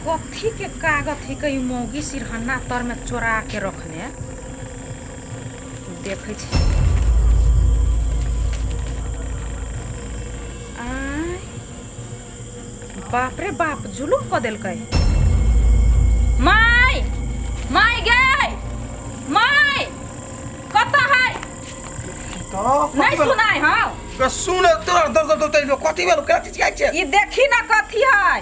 कथी के कागज है कहीं मौगी सिरहन्ना तर में चोरा के रखने देखे छी आय, बाप रे बाप जुलूम कऽ देलकै माय माय गे माय कतऽ है तो नहीं सुनाई हो तो सुन तोरा दर दर दर तैलो कथी भेल करा चीज खाइ छै ई देखी ना कथी है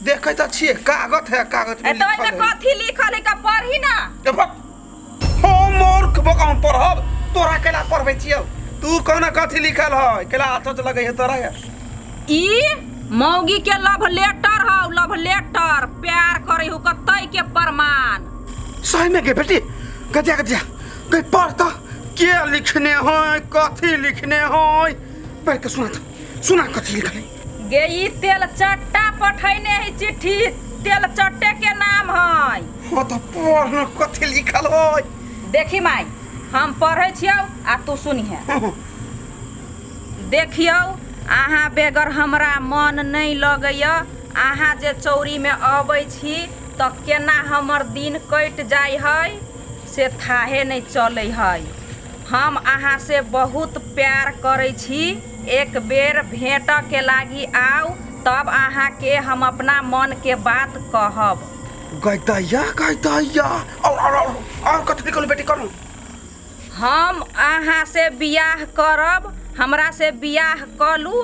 देखै त छिए कागज है कागज ए में तो लिखल एमे है कथी लिखल है का पढ़ी ना ए भक हो मूर्ख बकाम पढ़ब तोरा केला पढ़बै छियौ तू कहना कथी लिखल है केला हाथ से लगै है तोरा है ई मौगी के लव लेटर हौ लव लेटर प्यार करे हो कतई के प्रमाण सही में के बेटी कटिया कटिया कहीं पढ़ तो के लिखने हो कथी लिखने हो पढ़ के सुना तो सुना कथी लिखल है गे ई तेल चट्टा पठैने है चिट्ठी तेल चट्टे के नाम है हो तो पढ़ न कथी लिखल हो देखी माई हम पढ़ै छियौ आ तू सुनिहे देखियौ अहाँ बेगर हमरा मन नहि लगैए अहाँ जे चौरीमे अबै छी तऽ केना हमर दिन कटि जाइ हइ से थाहे नहि चलै हइ हम अहाँ से बहुत प्यार करै छी एक बेर भेंट के लागी आउ तब अहाँ के हम अपना मन के बात कहब गई दैया गई दैया और और और और कथी निकल बेटी कर हम अहाँ से बियाह करब हमरा से बियाह कलू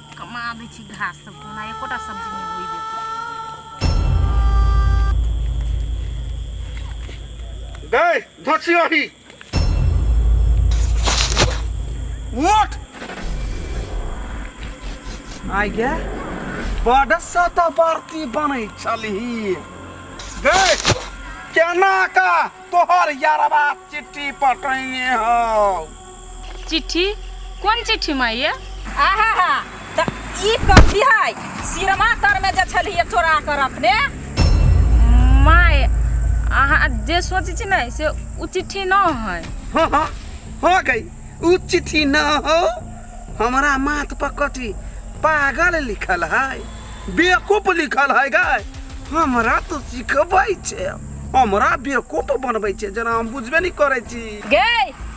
कमा दै छी घास सब कोना एकोटा सब्जी नहि होइ गए धोछी ओही उठ आइ गे बड सता बरती बनै छलही गए केना का तोहर यारवा चिट्ठी पठैने हौ चिट्ठी कोन चिट्ठी माँ ये आहा हा तऽ ई कथी है सिरमा तर में जे छलिए चोरा कर अपने माँ ये अहाँ जे सोचै छी ने से ओ चिट्ठी न है हाँ हाँ हो गई उ चिट्ठी न हो हमारा माथ पर कटी पागल लिखल है बेवकूफ लिखल है गाय हमरा तो सिखबै छै हमरा बेवकूफ बनबै छै जेना हम बुझबे नहीं करै छी गे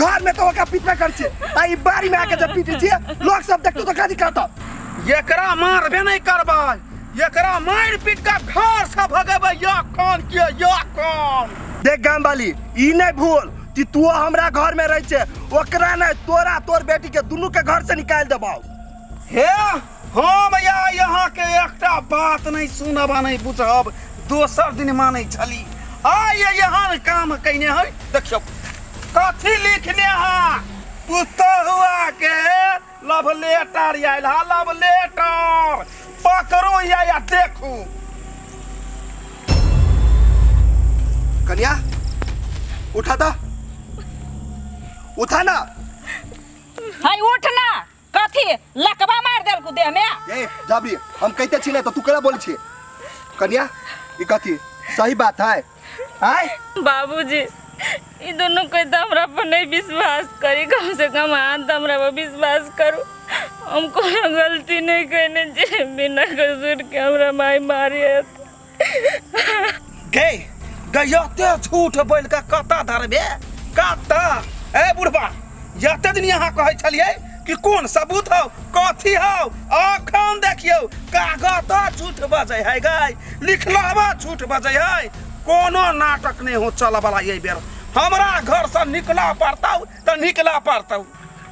घर में तो ओकरा पीटबे कर छे आ ई बारी में आके जब पीटे छे लोग सब देखतो तो काजी कहतो एकरा मारबे नहीं करबै एकरा मार पीट के घर से भगेबै या कौन के या कौन देख गाम वाली ई नहीं भूल कि तू हमरा घर में रह छे ओकरा नहीं तोरा तोर बेटी के दुनू के घर से निकाल देबौ हे हम या यहाँके एकटा बात नहि सुनब आ नहि बुझब दोसर दिन मानै छली आइ ये एहन काम कयने है देखियौ कथी लिखने है पुतहुआ के लव लेटर आयल है लव लेटर पकड़ू या या देखू कन्या उठा था उठा ना है उठ ना कथी लकबा मार देलकू देह में ए जबरी हम कहते छी ना तो तू केना बोल छी कन्या ई कथी सही बात है आय बाबूजी ई दोनों कोई तो हमरा पर नहीं विश्वास करी कम से कम हाथ तो हमरा पर विश्वास करू हम कोनो गलती नहीं कहने जे बिना कसूर के हमरा माई मारी है गे गयते झूठ बोल के कत धरबे कत ए बुढ़बा यते दिन यहाँ कहे छलिए कि कौन सबूत हो कथी हो अखन देखियो कागत झूठ बजे है गई लिखलवा झूठ बजे है कोनो नाटक नहीं हो चल वाला ये बेर हमरा घर से निकला पड़ता तो निकला पड़ता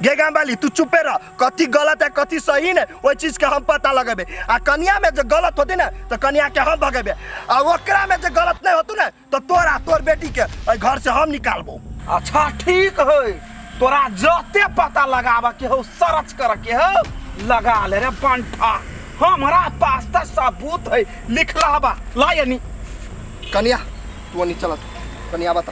गे गाम वाली तू चुपे रह कथी गलत है कथी सही ने ओहि चीज के हम पता लगेबे आ कनिया में जे गलत होती ने तो कनिया के हम भगेबे आ ओकरा में जे गलत नहीं होतू ने तो तोरा तोर बेटी के एहि घर से हम निकालबो अच्छा ठीक है तोरा जते पता लगाबा के हो सर्च कर के हो लगा ले रे पंठा हमरा पास त सबूत है लिखला बा ला यानी कनिया तू नहीं चलत कनिया बता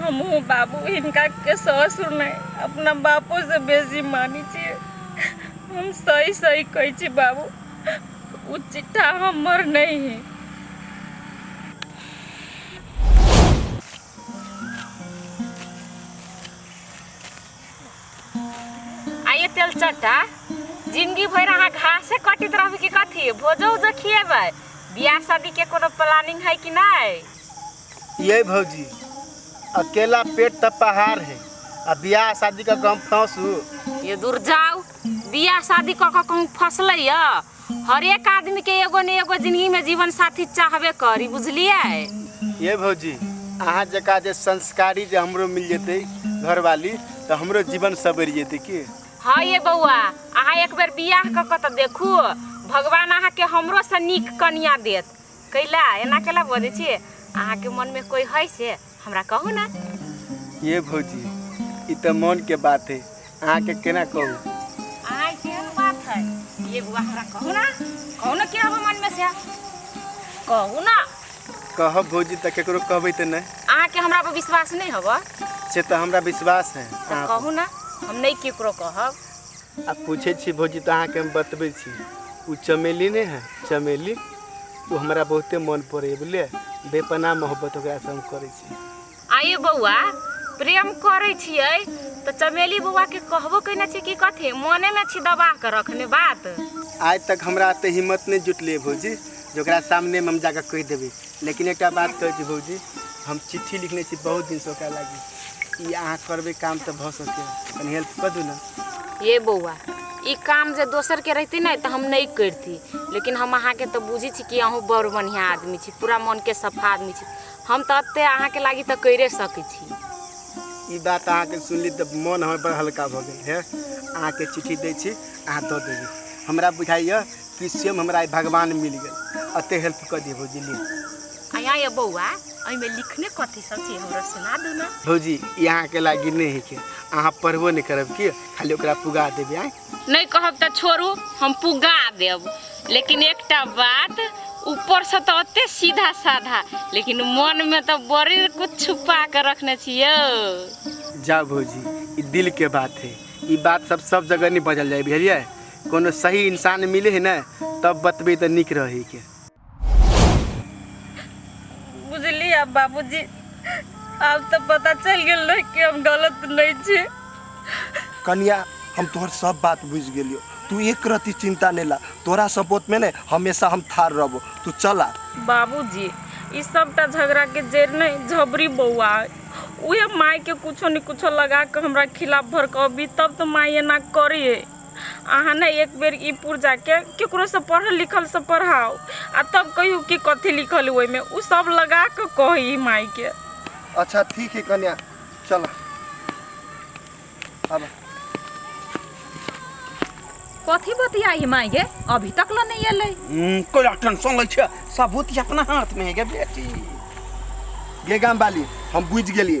हमहूँ बाबू हिनकाके ससुर नहि अपना बापोसँ बेसी मानै छियै हम सही सही कहै छी बाबू ओ चिट्ठा हमर नहि है आइए तेल चट्टा जिंदगी भरि अहाँ घासे कटित रहबै कि कथी भोजो उजो खिएबै बियाह शादीके कोनो प्लानिंग है कि नहि ये भौजी अकेला पेट त पहाड़ है आ बियाह शादी का गम फंसू ये दूर जाओ बियाह शादी कऽ कऽ कहूँ फसले य हरेक आदमी के एगो ने एगो जिंदगी में जीवन साथी चाहबे करी बुझलिए ये भौजी अहाँ जका जे संस्कारी जे हमरो मिल जेतै घरवाली तऽ हमरो जीवन सबरि जेतै की हाँ ये बौआ अहाँ एक बेर बियाह कऽ कऽ तऽ देखू भगवान अहाँके हमरो से नीक कनिया देत कैला एना कैला बजै छी अहाँके मनमे कोइ है से हमरा कहू ने ये भौजी ई तऽ मन के बात है अहाँके केना कहू अहाँ केहन बात है ये बुआ हमरा कहू ना कहू ना के हबे मनमे से कहू ना कहब भौजी तऽ केकरो कहबै तऽ नहि अहाँके हमरा पर विश्वास नहि हबे से तऽ हमरा विश्वास है अहाँ पर। कहू ना हम नहि केकरो कहब आ पूछे छी भौजी तो अहा के हम बतबे छी उ चमेली नहीं है चमेली वो हमारा बहुते मन पड़े बुझलिए बेपना मोहब्बत ओकरा से हम करे छी आये बौआ प्रेम करे छिए तो चमेली बौआ के कहबो कहना छी कि कथे मने में छी दबा के रखने बात आज तक हमरा ते हिम्मत नहीं जुटले भौजी जो सामने में हम जाकर कह देवे लेकिन एकटा बात कहै छी भौजी हम चिट्ठी लिखने छी बहुत दिन से ओकरा लागी ई अहाँ करबै काम तऽ भऽ सकैए कनि हेल्प कऽ दू ने ये बौआ ई काम जे दोसर के रहती ने तो हम नहीं करती लेकिन हम अहा के तो बुझी छी कि अहू बड़ बढ़िया आदमी छी पूरा मन के सफा आदमी छी हम तो अत्ते अहा के लागी तो करे सके छी ई बात अहाँके सुनली तऽ मोन हमर बड़ हल्का भऽ गेल हे अहाँके चिट्ठी दै छी अहाँ दऽ देबै हमरा बुझाइए कि सेम हमरा आइ भगवान मिल गेल अते हेल्प कर दिए भौजी ली आया ये बौआ अई में लिखने कथी सब छी हमरा सुना दो ना भौजी ई अहाँके लागी नहि है के अहाँ पढ़बो नहि करब की खाली ओकरा पुगा देबै आँय नहीं कहब त छोड़ू हम पुगा देब लेकिन एकटा बात ऊपर से तो अते सीधा साधा लेकिन मन में तो बड़ी कुछ छुपा के रखने छियो जा भौजी ई दिल के बात है ई बात सब सब जगह नहीं बजल जाए बुझलियै कोनो सही इंसान मिले है ना तब बतबे तो निक रहे के बुझली अब बाबूजी अब तो पता चल गेल रहे कि हम गलत नहीं छी कन्या हम तोहर सब बात बुझ गेलियो तू एक रति चिंता नहीं ला तोरा सपोर्ट में ने हमेशा हम थार रहबो तू चला बाबूजी ई सबटा झगड़ा के जड़ नहीं झबरी बौआ है। उहे माय के कुछो न कुछो लगा के हमरा खिलाफ भड़कबी तब तो माय एना करी है अहाँ ने एक बेर ई पुर्जा के केकरो से पढ़ल लिखल से पढ़ाओ आ तब कहियो कि कथी लिखल ओहि में उ सब लगा के कही माई के अच्छा ठीक है कन्या चल अब कथी बतियाई माई गे अभी तक ल नहीं एले हम्म, कोई टेंशन लै छै सबूत अपना हाथ में है गे बेटी गे गाम वाली हम बुझ गेलिए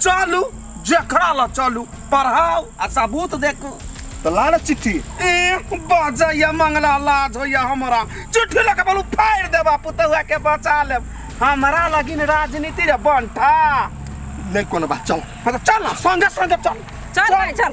चलू जखरा ल चलू पढ़ाओ आ सबूत देखू तो लाड़ चिट्ठी ए बजैया मंगला लाज होइया हमरा चिट्ठी लऽ के बोलू फाड़ि देबा पुतहुआ के बचा लेब हमरा लगिन राजनीति रे बंठा नहीं कोनो बात चलो हाँ तो चल ना संगे संगे चल चल भाई चल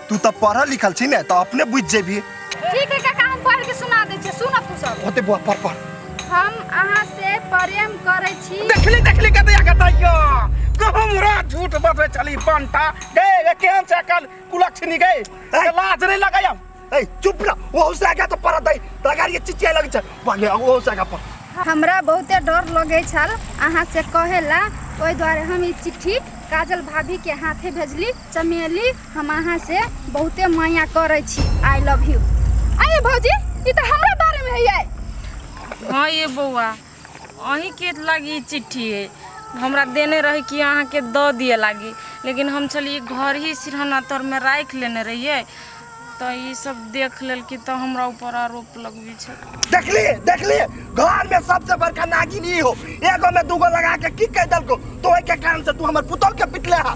तू तऽ पढ़ल लिखल छी ने तऽ अपने बुझि जेबी ठीक है काका हम पढ़ के सुना दै छी सुन तू सब होते बुआ पढ़ पढ़ हम अहाँ से प्रेम करै छी देखली देखली कते आगे तैयो कहूँ मुरा झूठ बतबे चली पंटा गे गे केहन से कल कुलक्षणी गे ए, लाज नहीं लगे हम ए चुप ना ओहू से आगे तो पढ़ दे तगार ये चिचिया लगे छै पहले ओहू से आगे पढ़ हमरा बहुते डर लगै छल अहाँ से कहे ला ओहि दुआरे हम ई चिट्ठी काजल भाभी के हाथे भेजली चमेली हम अहाँ से बहुते माया करै छी आई लव यू अरे भौजी ई तऽ हमरा बारे में है हाँ ये बौआ अहीं के लागी ई चिट्ठी है हमरा देने रही कि अहाँ के दऽ दिए लागी लेकिन हम छलिए घर ही सिरहना तर में राख लेने रहिए तो ई सब देख लेल कि तो हमरा ऊपर आरोप लगबी छै देखली देखली घर में सबसे बड़का नागिन ई हो एगो में दूगो लगा के की कह दलको तो ओहि के कारण से तू हमर पुतोह के पिटले हा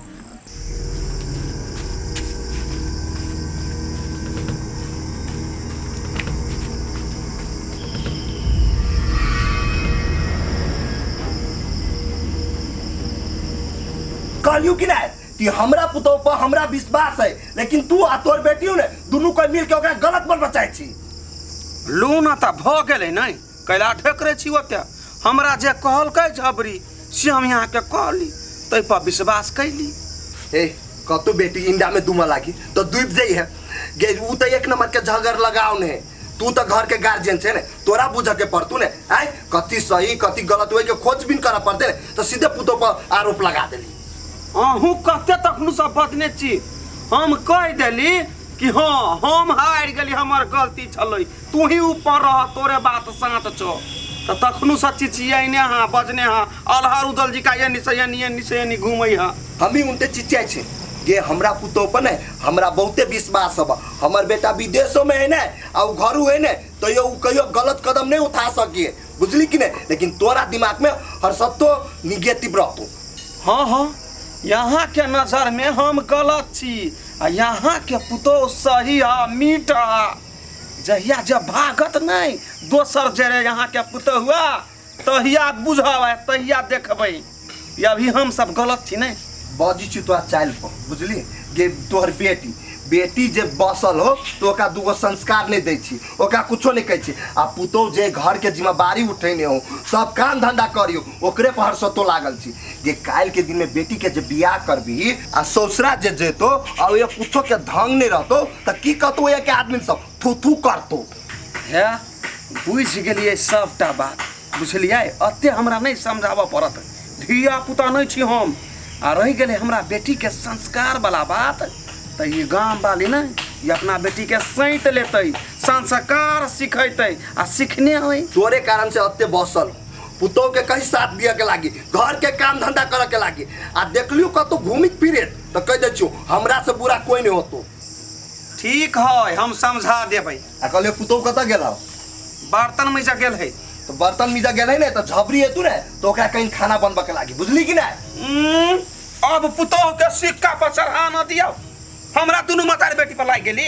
कहलियो कि नहीं कि हमरा पुतोह पर हमरा विश्वास है लेकिन तू आ तोर बेटियों ने दोनों कोई मिल के ओकरा गलत बन बचाई छी लूना तऽ भऽ गेलै नहि कैला ठेकरे छी ओते हमरा जे कहलकै झबरी से हम यहाँ के कहली तै पर विश्वास कैली ए कतु बेटी इंडा में दुमा लागी तो दुब जाई है गे उ तो एक नंबर के झगड़ लगाव ने तू तो घर के गार्जियन छे ने तोरा बुझ के पड़तू ने आय कति सही कति गलत होए के खोजबीन करा पड़ते ने तो सीधे पुतो पर आरोप लगा देली अहूँ कते तखनु सब बदने छी हम कह देली कि हाँ हम हार गेली हमर गलती छलै तू ही ऊपर रह तोरे बात साँच छो तऽ तखनू से चिचियने हाँ बजने हाँ अलहर उदल जी का एनी से एनी एनी से एनी घूमै हाँ हमही उनते चिचियाइ छै गे हमरा पुतोह पर ने हमरा बहुते विश्वास हब हमर बेटा विदेशो में है ने आ उ घरू है ने तैयो उ कहियो गलत कदम नहीं उठा सकिए बुझली कि नहीं लेकिन तोरा दिमाग में हर सत्तो निगेटिव रहतो हाँ हाँ यहाँ के नजर में हम गलत छी आ यहाँ के पुतोह सही हा मीठ हा जहिया जब भागत नहीं दोसर जरे यहाँ के पुतहुआ तहिया बुझब आ तहिया देखबै ई अभी हम सब गलत छी नहीं बाजी छी तोरा चाल पर बुझली गे तोहर बेटी बेटी जे बसल हो तो ओकरा दूगो संस्कार नहीं दै छी ओकरा कुछो नहीं कहै छी आ पुतोह जे घर के जिम्मेवारी उठेने हो सब काम धंधा करियो ओकरे पर हर्षतो लागल छी जे काल्हि के दिन में बेटी के जे बियाह करबी आ ससुरा जे जेतो आ ओए कुछो के ढंग नहीं रहतो त की कहतो ओए के आदमी सब थू थू करतो है बुझि गेलियै सभटा बात बुझलियै एते हमरा नहि समझाबऽ पड़त धिया पुता नहि छी हम आ रहि गेलै हमरा बेटीके संस्कारवला बात तऽ ई गामवाली ने ई अपना बेटीके सैंत लेतै संस्कार सिखेतै आ सिखने होइ तोरे कारण से अत्ते बसल पुतोह के कहीं साथ दिए के लागी घर के काम धंधा करे के लागी आ देखलियो कतो घूमित फिरेत तो कह दे छो हमरा से बुरा कोई नहीं होतो ठीक है हम समझा देबै आ कहलियो पुतोह कतऽ गेल हौ बर्तन में गेल है तो बर्तन मिजा गेल है ने तो झबरी हेतू ने तो ओकरा कहीं खाना बनबे के लागी बुझली कि नहीं उम्म, अब पुतोह के सिक्का पर चढ़ा न दियो हमरा दुनू मतारी बेटी पर लाग गेली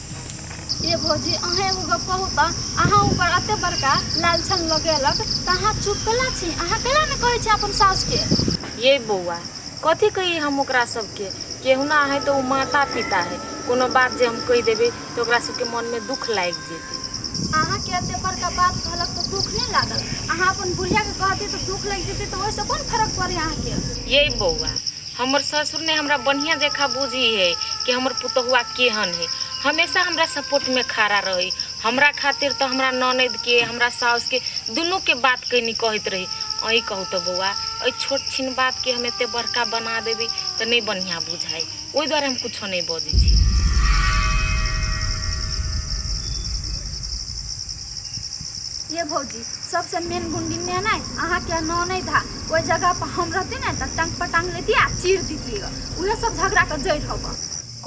ये भौजी अहाँ एगो गप कहू तऽ अहाँ ऊपर एते बड़का लालछन लऽ के अलग तऽ अहाँ चुप कला छी अहाँ कला ने कहै छी अपन सास के ये बौआ कथी कही हम ओकरा सबके केहुना है तो ओ माता पिता है कोनो बात जे हम कह देबे तो ओकरा सबके मन में दुख लाग जेते अहाँ के एते बड़का बात कहलक तो दुख नहीं लागल अहाँ अपन बुढ़िया के कहती तो दुख लग जेते तो ओहिसे कोन फर्क पड़े अहाँ के ये बौआ हमर ससुर ने हमरा बढ़िया जखा बुझी है कि हमर पुतहुआ केहन है हमेशा हमरा सपोर्ट में खड़ा रही हमरा खातिर तो हमरा ननद के हमरा साउस के दोनों के बात कैनी कहत रही अई कहू तो बउआ अई छोट छीन बात के हम एते बड़का बना देवी तो नहीं बढ़िया बुझाई ओहि द्वारे हम कुछो नहीं बजे छी ये भौजी सबसे मेन गुंडी ने नहीं अहाँ के ननद है ओहि जगहपर हम रहती ने तऽ टंग पर टंग लेती आ चीर देती उहे सब झगड़ा के जड़ हब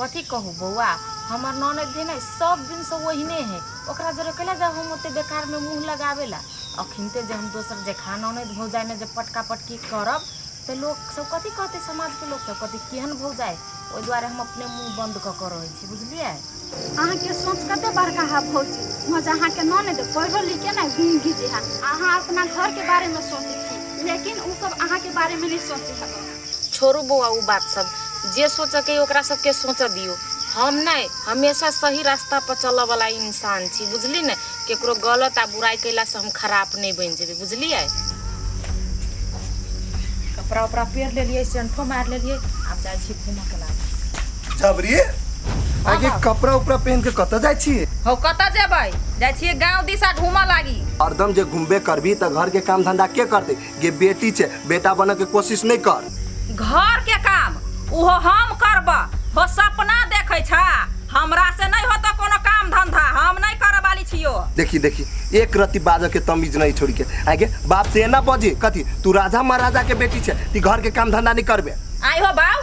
कथी कहू बौआ हमर ननद भी ने सब दिन से ओहिने है ओकरा जरे कैला जाओ हम ओते बेकार में मुंह लगावे ला अखिनते जे हम दोसर जे खाना ननद भौजाई में जे पटका पटकी करब तो लोग सब कथी कहते समाज के लोग सब कथी केहन भौजाई ओहि दुआरे हम अपने मुँह बन्द कऽ कऽ रहै छी बुझलियै अहाँके सोच कते बड़का है भौजी मजा अहाँके न ने दे पढ़ो लिखे ना घूम घीजे है अहाँ अपना घर के बारे में सोचे छी लेकिन उ सब अहाँ के बारे में नहीं सोचे है छोड़ू बौआ उ बात सब जे सोचे के ओकरा सबके सोचे दियो हम नहीं हमेशा सही रास्ता पर चलऽ वाला इंसान छी बुझली ने केकरो गलत आ बुराई कैला से हम खराब नहीं बन जेबे बुझलिए कपड़ा उपड़ा पेर ले लिए सेंठो मार ले लिए अब जाए छी घूमऽ के लागे जब रे आगे कपड़ा उपड़ा पहन के कत जाय छी हो कतऽ जेबै जाइ छियै गाँव दिशा घूमऽ लागी हरदम जे घूमबे करबी त घर के काम धंधा के करते गे बेटी छै बेटा बनऽ के कोशिश नहीं कर घर के काम ओहो हम करब हो सपना देखै छा हमरा से नहीं होता कोनो काम धंधा हम नहीं करब वाली छियो देखी देखी एक रति बाजऽ के तमीज नहीं छोड़ के आगे बाप से एना बजी कथी तू राजा महाराजा के बेटी छै ती घर के काम धंधा नहीं करबे आई हो बाऊ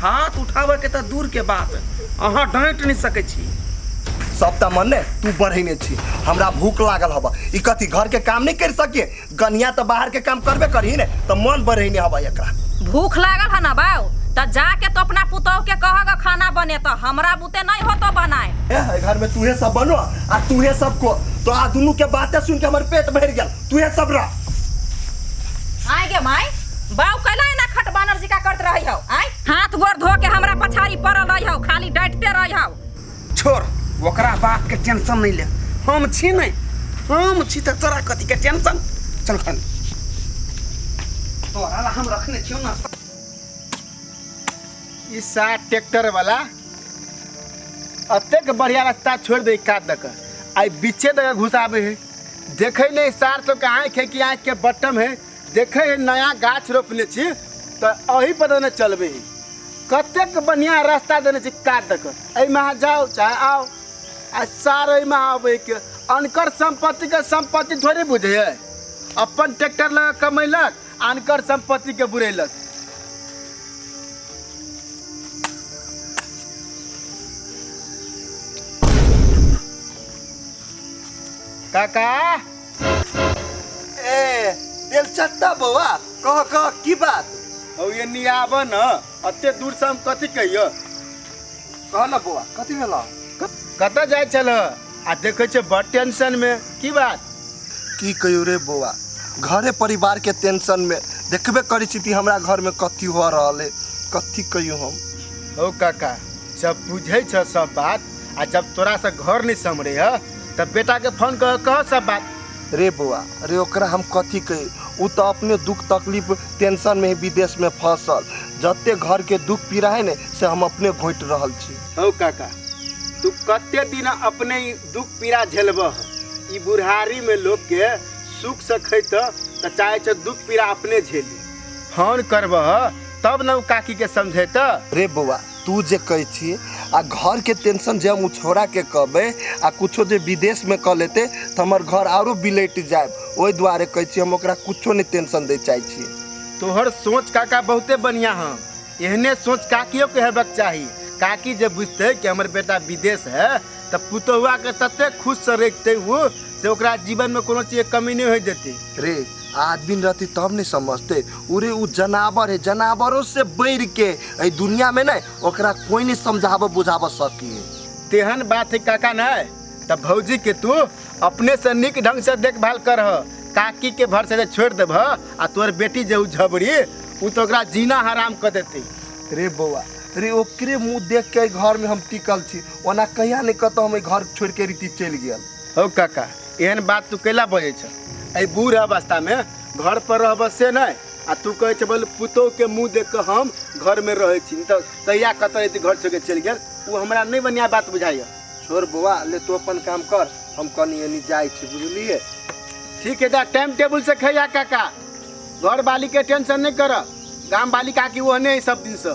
हाथ उठाबे के तऽ दूर के बात अहाँ डांट नहि सकै छी सब तऽ मने तू बढ़ेने छी हमरा भूख लागल हबा ई कथी घर के काम नहीं कर सकिए गनिया तऽ बाहर के काम करबे करही ने तऽ मन बढ़ेने हबा एकरा भूख लागल है ना बाऊ तो जाके तो अपना पुतौ के कहग खाना बने तो हमरा बुते नहीं हो तो बनाए ए, घर में तूहे सब बनो आ तूहे सब को तो आ दुनू के बातें सुन के हमर पेट भर गया तू है सब रह आय गे माय बाऊ कैला एना खट बानर जिका करत रही हो आय हाथ गोड़ धो के हमरा पछाड़ी पड़ल रही हो खाली डटते रही हो छोड़ ओकरा बात के टेंशन नहीं ले हम छी नहीं हम छी तो तोरा कथी के टेंशन चल खन तोरा ला हम रखने छियो ना ई सात ट्रैक्टर वाला अतेक बढ़िया रास्ता छोड़ दे काट दक आई बीचे दक घुसाबे है देखे नहीं सार तो के आँख है कि आँख के बटम है देखे है नया गाछ रोपने छी तो अही पर देने चलबे ही कतेक बढ़िया रास्ता देने छी काट दक एहिमे अहाँ जाओ चाहे आओ आ सार एहिमे आबे के अनकर संपत्ति के संपत्ति थोड़े बुझे है अपन ट्रैक्टर लगा कमैलक अनकर संपत्ति के बुरेलक काका ए बेलचत्ता बौआ कह कह की बात औ ये नी आब न अते दूर से हम कथी कहियो कह न बौआ कथी भेल कतऽ जाइ छल आ देखै छै बड़ टेंशन में की बात की कहियो रे बौआ घरे परिवार के टेंशन में देखबे करी छी कि हमरा घर में कथी हो रहल है कथी कहियो हम ओ काका सब बुझै छ सब बात आ जब तोरा से घर नहीं समरे है तब बेटा के फोन कर कह सब बात रे बौआ रे ओकरा हम कथी कही उ तो अपने दुख तकलीफ टेंशन में ही विदेश में फंसल जते घर के दुख पीड़ा है ने से हम अपने घोट रहल छी हौ काका तू कते दिन अपने ई दुख पीड़ा झेलब ई बुढ़ारी में लोग के सुख से खैत त चाहे छ दुख पीड़ा अपने झेली फोन करब तब न उ काकी के समझेत रे बौआ तू जे कहै छी आ घर के टेंशन जे हम उ छोड़ा के कहबे आ कुछो जे विदेश में कऽ लेते तऽ हमर घर आरो बिलैट जाए ओहि दुआरे कहै छी हम ओकरा कुछो नहि टेंशन दै चाहै छी तोहर सोच काका बहुते बढ़िया हँ एहने सोच काकियो के हेबक चाही काकी जे बुझते कि हमर बेटा विदेश है तऽ पुतहुआके ततेक खुशसँ रखिते ओ से ओकरा जीवनमे कोनो चीजके कमी नहि होय देतै रे आदमी रहती तब ने समझते उरे उ जनावर है जनावरों से बढ़ के एहि दुनिया में ने ओकरा कोई नहीं समझाबऽ बुझाबऽ सकी है तेहन बात है काका ने तऽ भौजी के तू अपने से नीक ढंग से देखभाल करह काकी के भर से छोड़ देबह आ तोर बेटी जे उ झबरी उ तो ओकरा जीना हराम कर देते रे बौआ रे ओकरे मुंह देख के एहि घर में हम टिकल छी ओना कहिया नहि कतहु हम एहि घर छोड़ि कऽ रीति चलि गेल हौ काका एहन बात तू कैला बजै छ एहि बूढ़ अवस्थामे घर पर रहब से नहि आ तू कहै छ बोल पुतोहके मुँह देख कऽ हम घरमे रहै छी नहि तऽ कहिया कतऽ एते घर छोड़ि कऽ चलि गेल ओ हमरा नहि बढ़िआँ बात बुझाइए छोड़ बौआ ले तू अपन काम कर हम कनी एनी जाइ छी बुझलिए ठीक है जा टाइम टेबुल से खैया काका घर वाली के टेंशन नहीं कर गाम वाली काकी वो नहीं सब दिन से